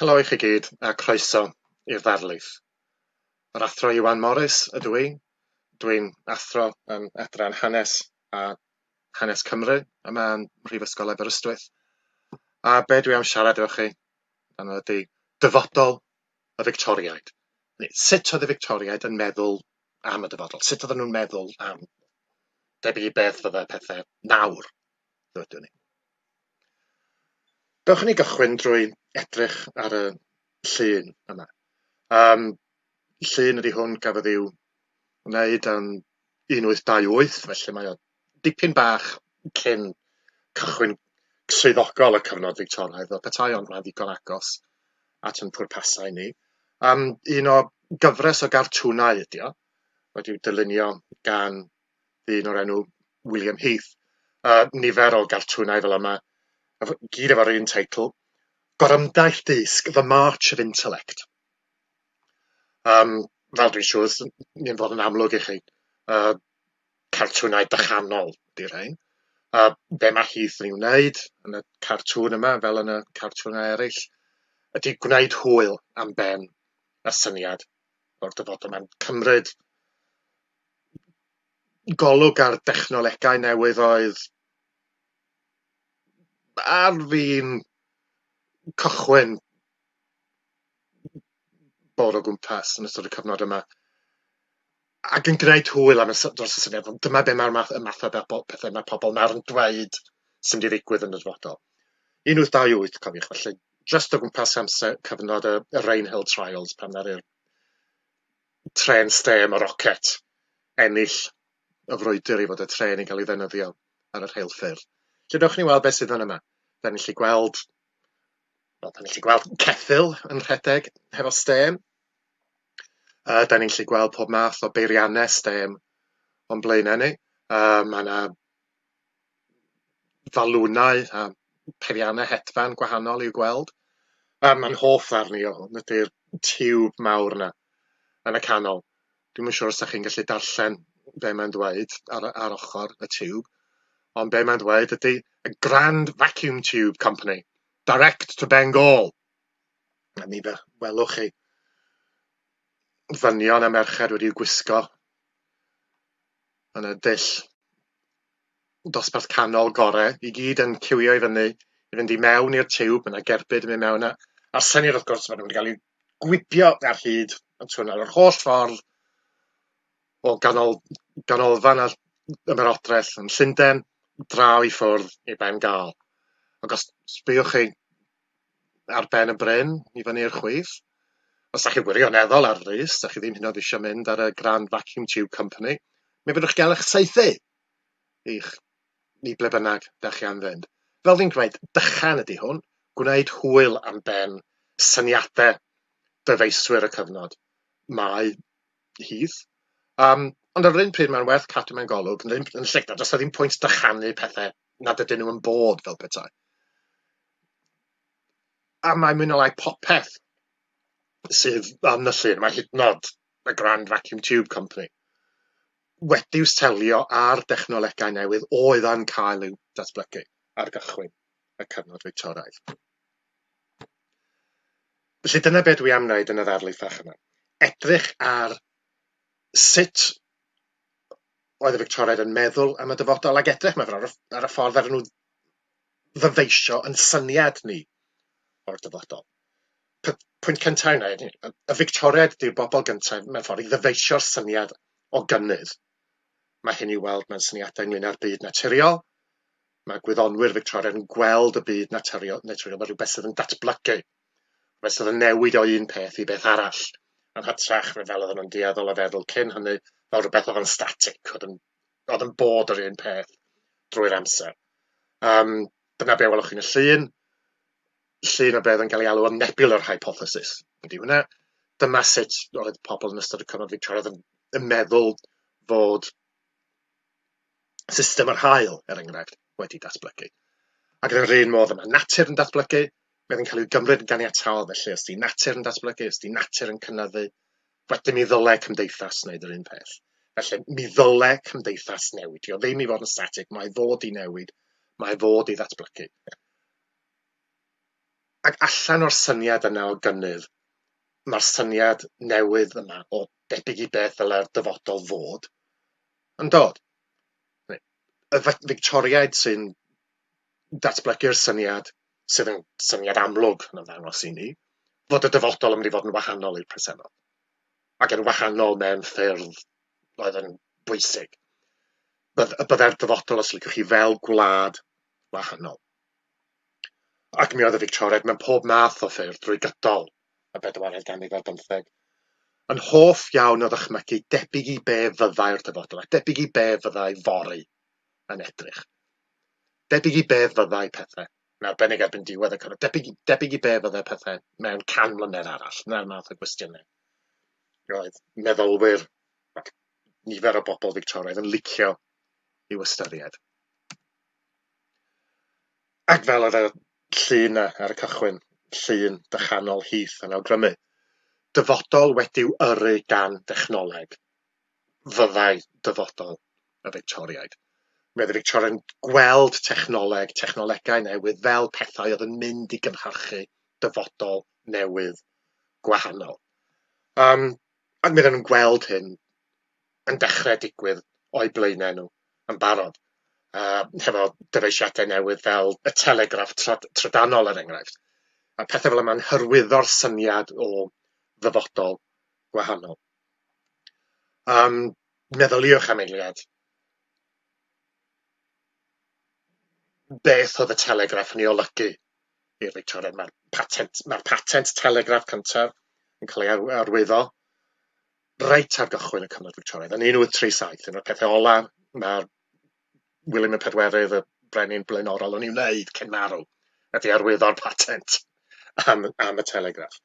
Helo i chi gyd a croeso i'r ddarlith. Yr Athro Iwan Morris ydw i. Dwi'n athro yn Adran Hanes a Hanes Cymru yma yn Mhrifysgol Aberystwyth. A be dwi am siarad efo chi amdano ydy dyfodol y Fictoriaid. Sut oedd y Fictoriaid yn meddwl am y dyfodol? Sut oedden nhw'n meddwl am debyg i beth fyddai pethau nawr? Rydyn ni. Dewch i ni gychwyn drwy edrych ar y llun yma. Um, llun ydy hwn gafodd i'w wneud yn 1828, felly mae o dipyn bach cyn cychwyn swyddogol y cyfnod Fictoraidd, fel petai ond mae'n ddigon agos at yn pwrpasau ni. Um, un o gyfres o gartwnau ydy o, wedi'w dylunio gan ddyn o'r enw William Heath, a nifer o gartwnau fel yma, gyd efo'r un teitl, Gorymdaith Dysg, The March of Intellect. Um, fel dwi'n siŵr, ni'n fod yn amlwg i chi, uh, cartwnau dychanol di'r rhain. A be mae Heath yn ei wneud yn y cartŵn yma, fel yn y cartwnau eraill, ydy gwneud hwyl am ben y syniad o'r dyfodol. Mae'n cymryd golwg ar dechnolegau newydd oedd ar fin cychwyn bod o gwmpas yn ystod y cyfnod yma, ac yn gwneud hwyl am y sy- dros y syniad, ond dyma be mae'r math y math o bebo- pethe ma' pobol nawr yn dweud sy'n mynd i ddigwydd yn y dyfodol. 1828 cofiwch felly, jyst o gwmpas amser cyfnod y y Rainhill Trials pan ddaru'r trên stêm a roced, ennill y frwydr i fod y trên yn cael ei ddefnyddio ar y rheilffyrdd. Felly, dewch ni weld beth sydd fan yma. Da ni'n gallu gweld, wel, da ni'n gallu gweld ceffyl yn rhedeg hefo stêm. Uh, da ni'n gallu gweld pob math o beiriannau stêm o'n blaenau ni. Uh, mae yna falwnau a pheriannau hedfan gwahanol i'w gweld. A mae'n hoff ddarn i o hwn ydy'r tiwb mawr yna yn y canol. Dwi'm yn siŵr os 'dach chi'n gallu darllen be' mae'n ddweud ar y ar ochor y tiwb, ond be' mae'n ddweud ydy y Grand Vacuum Tube Company, direct to Bengal! A mi fe- welwch chi ddynion a merched wedi gwisgo yn y dull dosbarth canol gore, i gyd yn cywio i fyny i fynd i mewn i'r tiwb, mae yna gerbyd yn mynd mewn, a, a'r syniad wrth gwrs, maen nhw wedi cael eu gwibio ar hyd y twnnel yr holl ffordd o ganol, ganolfan a ymerodraeth yn Llundain, draw i ffwrdd i Ben Gâl. Ac os sbïwch chi ar ben y bryn i fyny i'r chwith. Os da chi wirioneddol ar frys, da chi ddim hynod eisiau mynd ar y Grand Vacuum Tube Company, mi fyddwch gael eich saethu i'ch ni ble bynnag da chi am fynd. Fel fi'n gwneud, dychan ydy hwn, gwneud hwyl am ben syniadau dyfeiswyr y cyfnod. Mae hydd. Um, ond ar yr un pryd mae'n werth cadw mewn golwg yn, yn lle, does da ddim pwynt dychanu pethau nad ydyn nhw yn bod fel petai. A mae mwy na lai popeth sydd am nyllur, mae hyd yn o'd y Grand Vacuum Tube Company, wedi'u selio ar dechnolegau newydd oedd yn cael eu datblygu ar gychwyn y cyfnod Fictoraidd. Felly dyna be dwi am wneud yn y ddarlith fach yma. Edrych ar sut oedd y Fictoraidd yn meddwl am y dyfodol ac edrych, mae'n fawr, ar y ffordd ar y nhw ddyfeisio ein syniad ni o'r dyfodol. P- pwynt cynta yna ydi, y y Fictoriaid ydi'r bobol gynta mewn ffor i ddyfeisio'r syniad o gynnydd. Mae hyn i'w weld mewn syniadau ynglŷn â'r byd naturiol, mae gwyddonwyr Fictorian yn gweld y byd naturiol naturiol fel rhywbeth sydd yn datblygu, rhywbeth sydd yn newid o un peth i beth arall, yn hytrach na fel oedden nhw'n dueddol o feddwl cyn hynny fel rhywbeth oedd yn static, oedd yn oedd yn bod yr un peth drwy'r amser. Um, dyna be welwch chi'n y llun. Llun o beth yn cael ei alw yn nebular hypothesis. Ydy hwnna. Dyma sut oedd pobl yn ystod y cyfnod Victoriaidd yn, yn meddwl fod system yr hael, er enghraifft, wedi datblygu. Ac yn yr un modd yma, natur yn datblygu, mae'n cael ei gymryd yn ganiataol, felly os di natur yn datblygu, os di natur yn cynnyddu, Wedyn mi ddyle cymdeithas wneud yr un peth. Felly, mi ddyle cymdeithas newid. Dio ddim i fod yn statig, mae fod i newid, mae fod i ddatblygu. Ac allan o'r syniad yna o gynnydd, mae'r syniad newydd yma o debyg i beth ddyle'r dyfodol fod yn dod. Y Victoriaid sy'n datblygu'r syniad sydd yn syniad amlwg yn ymddangos i ni, fod y dyfodol yn mynd i fod yn wahanol i'r presennol, ac yn wahanol mewn ffyrdd oedd yn bwysig. Bydd, y byddai'r dyfodol, os liciwch chi, fel gwlad wahanol. Ac mi oedd y Victoriaid mewn pob math o ffyrdd drwy gydol y bedwaredd ganrif ar bymtheg, yn hoff iawn o ddychmygu debyg i be fyddai'r dyfodol, a debyg i be fyddai fory yn edrych. debyg i be fyddai pethe, yn arbennig erbyn diwedd y cyfnod, debyg, debyg i be fyddai pethe mewn can mlynedd arall, na'r math o gwestiynau. Roedd meddylwyr, nifer o bobl Victoraidd yn licio i'w ystyried. Ac fel yr llun ar y cychwyn, llun dychanol Heath yn awgrymu, dyfodol wedi'w yrru gan dechnoleg, fyddai dyfodol y Fictoriaid. Mi oedd y Fictoriaid yn gweld technoleg, technolegau newydd fel pethau oedd yn mynd i gynhyrchu dyfodol newydd gwahanol. Um, ac mi oedden nhw'n gweld hyn yn dechrau digwydd o'i blaenau nhw yn barod. Uh, hefo dyfeisiadau newydd fel y telegraff trydanol er enghraifft. A pethau fel yma'n hyrwyddo'r syniad o ddyfodol gwahanol. Yym, meddyliwch am eiliad, beth oedd y telegraff yn ei olygu i'r Fictoriaid? Mae'r patent... mae'r patent telegraff cyntaf yn cael ei ar- arwyddo reit ar gychwyn y cyfnod Fictoriaidd, yn 1837, un o'r pethe ola' ma' William y Pedwerydd, y brenin blaenorol, yn ei wneud cyn marw, ydi arwyddo'r patent am y am y telegraff.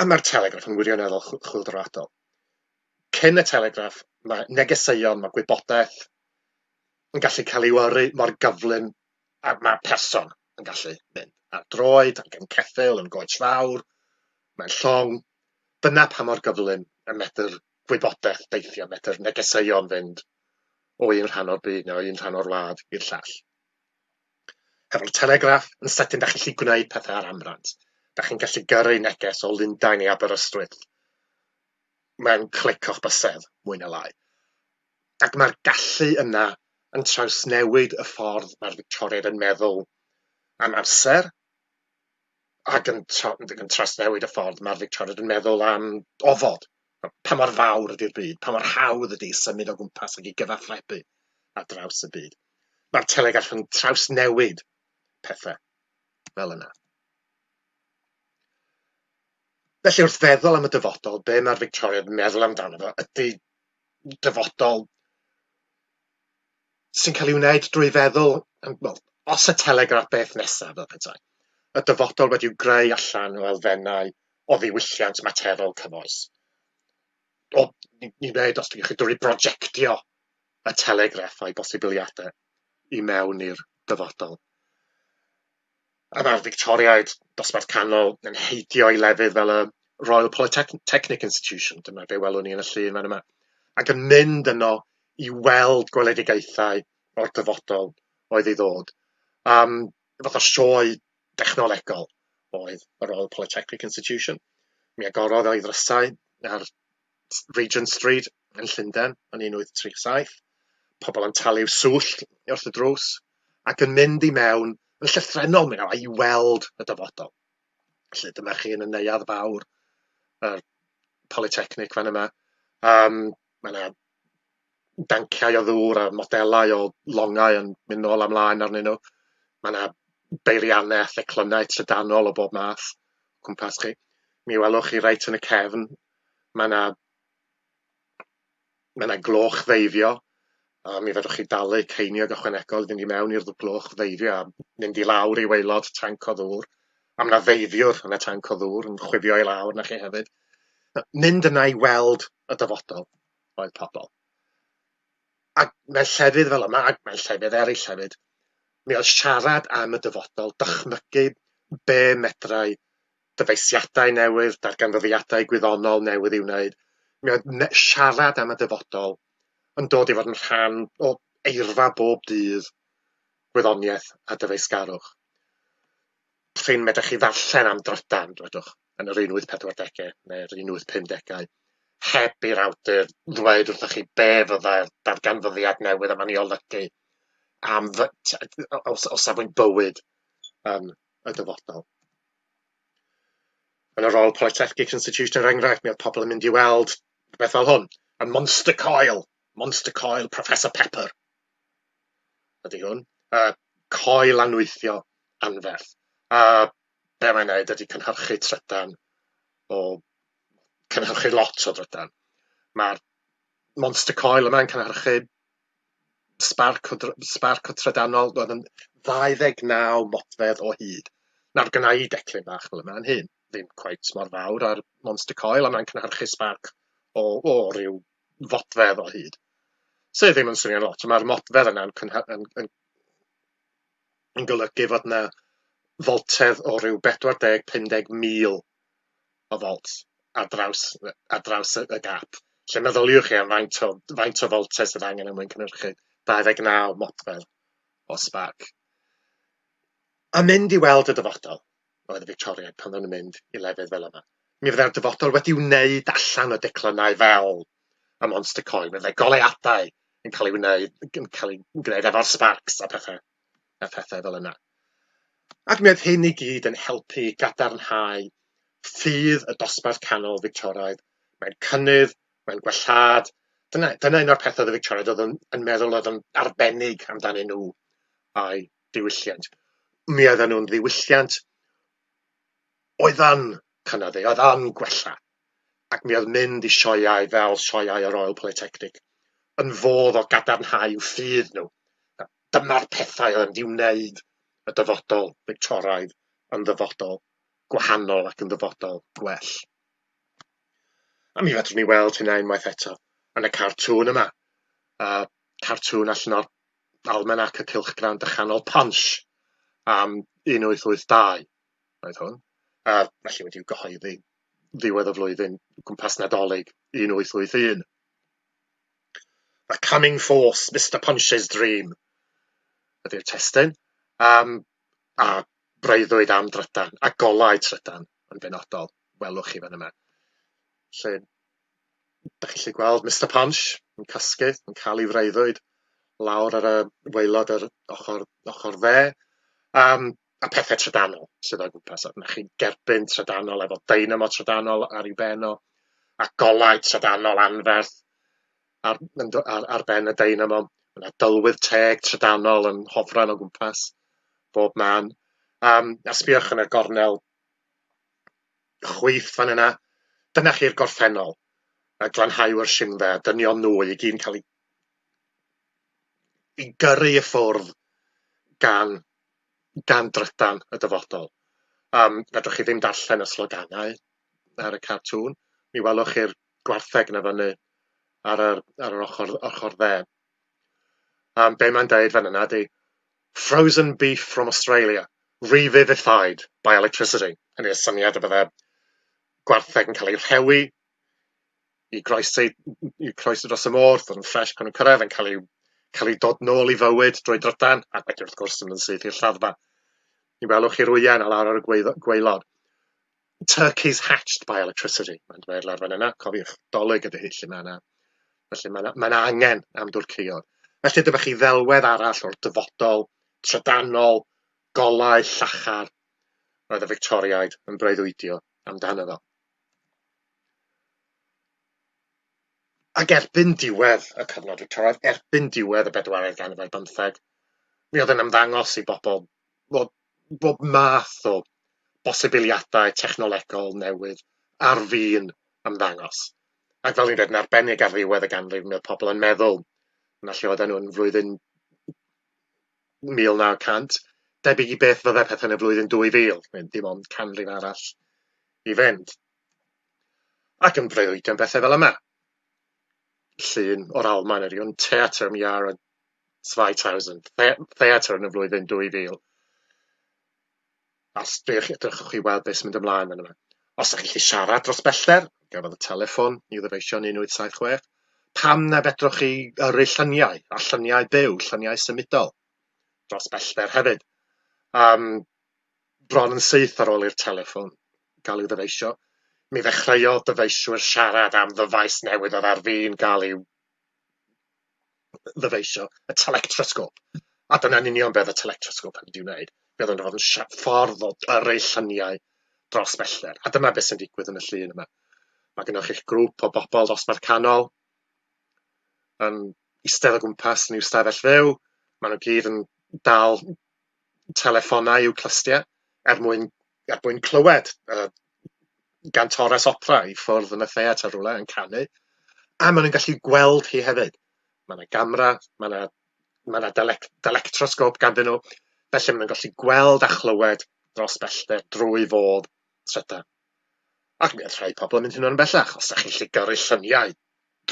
A mae'r Telegraph yn wirioneddol chwyldroadol. Cyn y Telegraph, mae negeseuon, mae gwybodaeth yn gallu cael ei yrru mor gyflym a mae person yn gallu mynd ar droed, ac yn ceffyl, yn goets fawr, mae'n llong. Dyna pa mor gyflym y medr gwybodaeth deithio, medr negeseuon fynd o un rhan o'r byd neu o un rhan o'r wlad i'r llall. Hefo'r Telegraph yn sydyn dach chi'n gallu gwneud pethau ar amrant. Dach chi'n gallu gyrru neges o Lundain i Aberystwyth mewn clic o'ch bysedd, mwy neu lai. Ac mae'r gallu yna yn trawsnewid y ffordd mae'r Fictoriaid yn meddwl am amser, ac yn tra- ac yn trawsnewid y ffordd mae'r Fictoriaid yn meddwl am ofod, pa mor fawr ydy'r byd, pa mor hawdd ydy symud o gwmpas ac i gyfathrebu ar draws y byd. Mae'r Telegarth yn trawsnewid pethau fel yna. Felly wrth feddwl am y dyfodol, be mae'r Fictoriaid yn meddwl amdano fo ydy dyfodol sy'n cael ei wneud drwy feddwl, wel, os y Telegraph beth nesaf, fel petai, y dyfodol wedi'w greu allan o elfennau o ddiwylliant materol cyfoes. O, ni'n ni wneud, os dwi'n chi drwy brojectio y Telegraph a'i bosibiliadau i mewn i'r dyfodol. A mae'r Fictoriaid, dosbarth canol, yn heidio i lefydd fel y Royal Polytechnic Institution, dyma be welwn ni yn y llun fan yma, ac yn mynd yno i weld gweledigaethau o'r dyfodol oedd ei ddod. Um, fath o sioe dechnolegol oedd y Royal Polytechnic Institution. Mi agorodd o'i ddrysau ar Regent Street yn Llundain yn 1837, pobl yn talu swllt wrth y drws ac yn mynd i mewn yn llythrennol mewn i weld y dyfodol. Felly dyma chi yn y neuadd fawr, y Polytechnic fan yma, um, mae yna danciau o ddŵr a modelau o longau yn mynd nôl a mlaen arnyn nhw. Mae yna beiriannau a theclynnau trydanol o bob math o cwmpas chi. Mi welwch chi reit yn y cefn, mae yna mae yna gloch ddeifio, a mi fedrwch chi dalu ceiniog ychwanegol i fynd i mewn i'r gloch ddeifio a mynd i lawr i waelod tanc o ddŵr. A mae yna ddeifiwr yn y tanc o ddŵr yn chwifio i lawr na chi hefyd. Mynd yna i weld y dyfodol oedd pobl. Ac mewn llefydd fel yma, ac mewn llefydd eraill hefyd, mi oedd siarad am y dyfodol, dychmygu be medrai dyfeisiadau newydd, darganfyddiadau gwyddonol newydd i'w wneud, mi oedd siarad am y dyfodol yn dod i fod yn rhan o eirfa bob dydd gwyddoniaeth a dyfeisgarwch. Prin medrwch chi ddarllen am drydan, dwedwch. yn yr un wyth pedwar degau neu'r un wyth pum degau, heb i'r awdur ddweud wrthych chi be fyddai'r darganfyddiad newydd yma'n ei olygu am fy, o, o safbwynt bywyd yn y dyfodol. Yn y Royal Polytechnic Institution, er enghraifft, mi oedd pobl yn mynd i weld beth fel hwn, y Monster Coil, Monster Coil Professor Pepper. Ydy hwn, y coel anwythio anferth. A be' mae'n neud ydi cynhyrchu trydan o cynhyrchu lot o drydan. Ma'r monster coil yma'n cynhyrchu sbarc o dry- sbarc o trydanol roedd yn ddau ddeg naw modfedd o hyd. Nawr gynna i declyn bach fel yma'n hyn, ddim cweit mor fawr â'r monster coil a mae'n cynhyrchu sbarc o o ryw fodfedd o hyd. Sy ddim yn swnio'n lot, ond ma'r modfedd yna'n cynhy- yn yn yn golygu fod 'na foltedd o ryw bedwar deg, pum deg mil o volts ar draws yy ar draws y y gap, lle meddyliwch chi am faint o faint o foltedd sydd angen er mwyn cynhyrchu 29 modfedd o sbarc. A mynd i weld y dyfodol. oedd y Fictoriaid pan oedden nhw'n mynd i lefydd fel yma. Mi fyddai'r dyfodol wedi wneud allan o declynnau fel y Monster Coin, mi fyddai goleuadau yn cael ei wneud, yn cael ei gwneud efo'r sparks a pethau, a pethau fel yna. Ac mi oedd hyn i gyd yn helpu gadarnhau ffydd y dosbarth canol Fictoraidd. Mae'n cynnydd, mae'n gwellhad. Dyna, dyna un o'r pethau oedd y Fictoraidd oedd yn, yn meddwl oedd yn arbennig amdanyn nhw, a'i diwylliant. Mi oeddan nhw'n ddiwylliant oeddan cynyddu, oedd an gwella. Ac mi oedd mynd i sioeau fel sioeau y Royal Polytechnic yn fodd o gadarnhau ffydd nhw. Dyma'r pethau oedd yn mynd i wneud y dyfodol Fictoraidd yn ddyfodol gwahanol ac yn ddyfodol gwell. A mi fedrwn ni weld hynna unwaith eto yn y cartŵn yma. A cartŵn allan o'r Almanac y Cylchgrawn Dychanol Punch am 1882 oedd hwn, a felly wedi i'w gyhoeddi ddiwedd y flwyddyn gwmpas Nadolig 1881. The Coming Force, Mr Punch's Dream ydy'r testyn, um, a breuddwyd am drydan, a golau trydan yn benodol, welwch chi fan yma. Lle Dach chi'n gallu gweld Mister Punch yn casglu, yn cael ei freuddwyd lawr ar y waelod yr ochr ochr dde, um, a pethau trydanol sydd o gwmpas. Mae chi'n gerbyn trydanol efo dynamo trydanol ar ei ben o, a golau trydanol anferth ar, ar, ar ben y dynamo. Mae yna dylwydd teg trydanol yn hofran o gwmpas bob man. Um, a sbiwch yn y gornel chwith fan yna, dyna chi'r gorffennol, a glanhau o'r simdde, a dynion nhw i gyd yn cael eu i gyrru i ffwrdd gan, gan drydan y dyfodol. Um, fedrwch chi ddim darllen y sloganau ar y cartŵn, mi welwch chi'r gwartheg na fyny ar yr, ar yr ochr, ochr dde. Um, be mae'n dweud fan yna di, frozen beef from Australia, re-vivified by electricity, hynny yw, syniad y bydde gwartheg yn cael ei rhewi i groesi, i groesi dros y môr, fod yn ffres pan nhw'n cyrraedd, yn cael ei, cael ei dod nôl i fywyd drwy drydan, ac wedyn wrth gwrs yn syth i'r lladdfa. Ni welwch chi rwyau a lawr ar y gweilod. Turkeys hatched by electricity, mae'n dweud lawr fan yna, cofiwch, dolig ydy hi, lle mae yna, felly mae yna, mae yna angen am dwrceuod. Felly dyma chi ddelwedd arall o'r dyfodol, trydanol, golau, llachar, roedd y Victoriaid yn breuddwydio amdano fo. Ac erbyn diwedd y cyfnod Victoriaidd, erbyn diwedd y bedwaredd ganrif ar bymtheg, mi oedd yn ymddangos i bobl fod bob math o bosibiliadau technolegol newydd ar fin ymddangos. Ac fel o'n i'n dweud, yn arbennig ar ddiwedd y ganrif, mi oedd pobl yn meddwl, na lle oedden nhw yn flwyddyn 1900, debyg i beth fydde pethau yn y flwyddyn 2000, neu dim ond canrif arall i fynd. Ac yn breuddwydio am bethau fel yma. Llun o'r Almaen, yr un Theatr am Iâr, 2000, theatr yn y flwyddyn 2000, a os dych, edrychwch i weld beth sy'n mynd ymlaen yn yma. Os ydych chi'n siarad dros bellter, gafodd y telefon i ddyfeisio'n 1876, pam na fedrwch chi yrru lluniau, a lluniau byw, lluniau symudol, dros bellter hefyd. Um, bron yn syth ar ôl i'r telefon gael ei ddyfeisio, mi ddechreuodd dyfeisiwr siarad am ddyfais newydd oedd ar fin gael ei ddyfeisio y telectrosgôp, a dyna'n union be oedd y telectrosgôp yn mynd i'w wneud, fe oedd o'n mynd i fod yn ffordd o yrru lluniau dros bellter, a dyna beth sy'n digwydd yn y llun yma. Mae gennych chi'ch grŵp o bobl dosbarth canol yn eistedd o gwmpas yn i'w stafell fyw, maen nhw gyd yn dal telefonau i'w clustiau er mwyn er mwyn clywed y gantores opera i ffwrdd yn y theatr rywle yn canu, a maen nhw'n gallu gweld hi hefyd. Mae yna gamera, mae yna mae yna delec- delectrosgôp ganddyn nhw, felly maen nhw'n gallu gweld a chlywed dros bellter drwy fodd trydan. Ac mi oedd rhai pobl yn mynd hynod yn bellach, os da chi'n gallu gyrru lluniau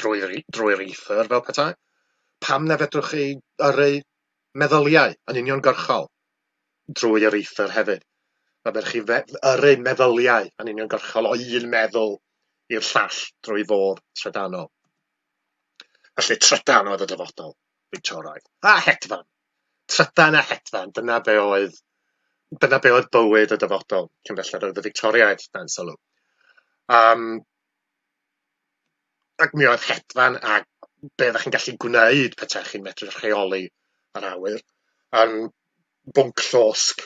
drwy'r i- drwy'r ether fel petai, pam na fedrwch chi yrru meddyliau yn uniongyrchol? drwy yr eithr hefyd. Mae gennych chi fe- yrru meddyliau yn uniongyrchol o un meddwl i'r llall drwy fodd trydanol. Felly trydan oedd y dyfodol, Victoraidd. A hedfan! Trydan a hedfan, dyna be oedd, dyna be oedd bywyd y dyfodol cyn belled oedd y Victoriaid, dan sylw. Um, Ac mi oedd hedfan a be oeddech chi'n gallu gwneud petaech chi'n medru rheoli yr awyr yn bwnc llosg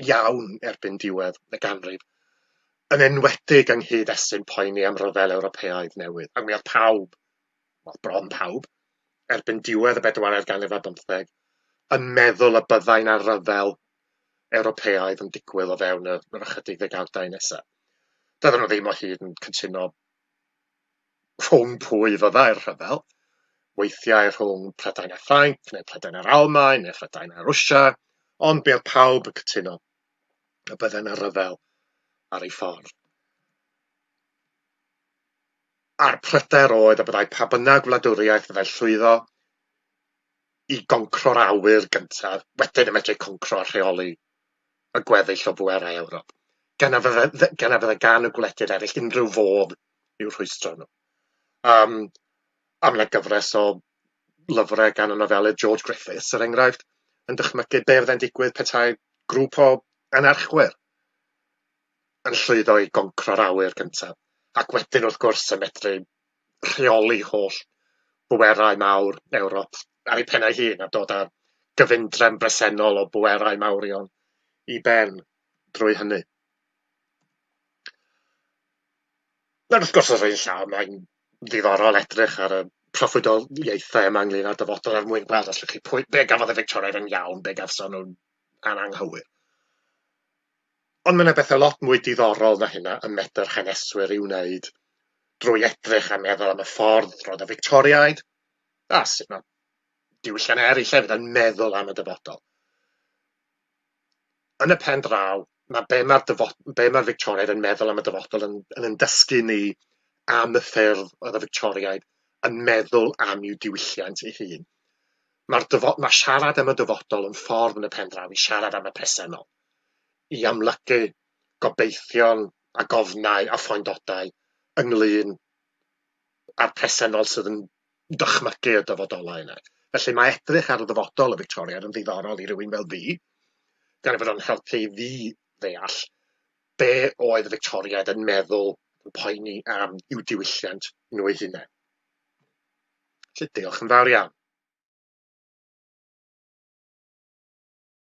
iawn erbyn diwedd y ganrif, yn enwedig yng nghyd-destun poeni am ryfel Ewropeaidd newydd. Ac mi oedd pawb, wel, bron pawb, erbyn diwedd y bedwaredd ganrif ar bymtheg, yn meddwl y byddai 'na ryfel Ewropeaidd yn digwydd o fewn yr yr ychydig ddegawdau nesa. Doedden nhw ddim o hyd yn cytuno rhwng pwy fyddai'r rhyfel, weithiau rhwng Prydain a Ffrainc, neu Prydain a'r Almaen, neu Prydain a Rwsia, ond mi oedd pawb yn cytuno y bydde yna ryfel ar ei ffordd. A'r pryder oedd y byddai pa bynnag wladwriaeth fyddai llwyddo i goncro'r awyr gyntaf, wedyn y medru concro a rheoli y gweddill o bwerau Ewrop, gan na fydde, gan na fydde gan y gwledydd eraill unrhyw fodd i'w rhwystro nhw. Um, a mae gyfres o lyfrau gan y nofelydd George Griffiths, er enghraifft, yn dychmygu be fydde'n digwydd petai grŵp o anarchwyr yn llwyddo i goncro'r awyr gyntaf, ac wedyn, wrth gwrs, yn medru rheoli holl bwerau mawr Ewrop ar ei phen ei hun a dod â'r gyfundrefn bresennol o bwerau mawrion i ben drwy hynny. Ac wrth gwrs, os ein llaw, mae'n ddiddorol edrych ar y proffwydoliaethau yma ynglyn â'r dyfodol er mwyn gweld os llwch chi pwy, be gafodd y Victoriaid yn iawn, be gafson nhw'n ananghywir. Ond mae 'na betha lot mwy diddorol na hynna y medr haneswyr i'w wneud drwy edrych a meddwl am y ffordd roedd y Fictoriaid, a sut mae diwylliannau eraill hefyd, yn meddwl am y dyfodol. Yn y pen draw, mae be mae'r dyfod- be mae'r Fictoriaid yn meddwl am y dyfodol yn yn 'yn dysgu ni am y ffyrdd oedd y Fictoriaid yn meddwl am i'w diwylliant ei hun. Mae'r dyfod- mae siarad am y dyfodol yn ffordd yn y pen draw i siarad am y presennol, i amlygu gobeithion a gofnau a phoendodau ynglŷn â'r presennol sydd yn dychmygu y dyfodolau yna. Felly mae edrych ar y ddyfodol y Fictoria yn ddiddorol i rywun fel fi, gan ei fod o'n helpu i fi ddeall be oedd y Fictoriaid yn meddwl, yn poeni am i'w diwylliant nhw eu hunain. Felly diolch yn fawr iawn.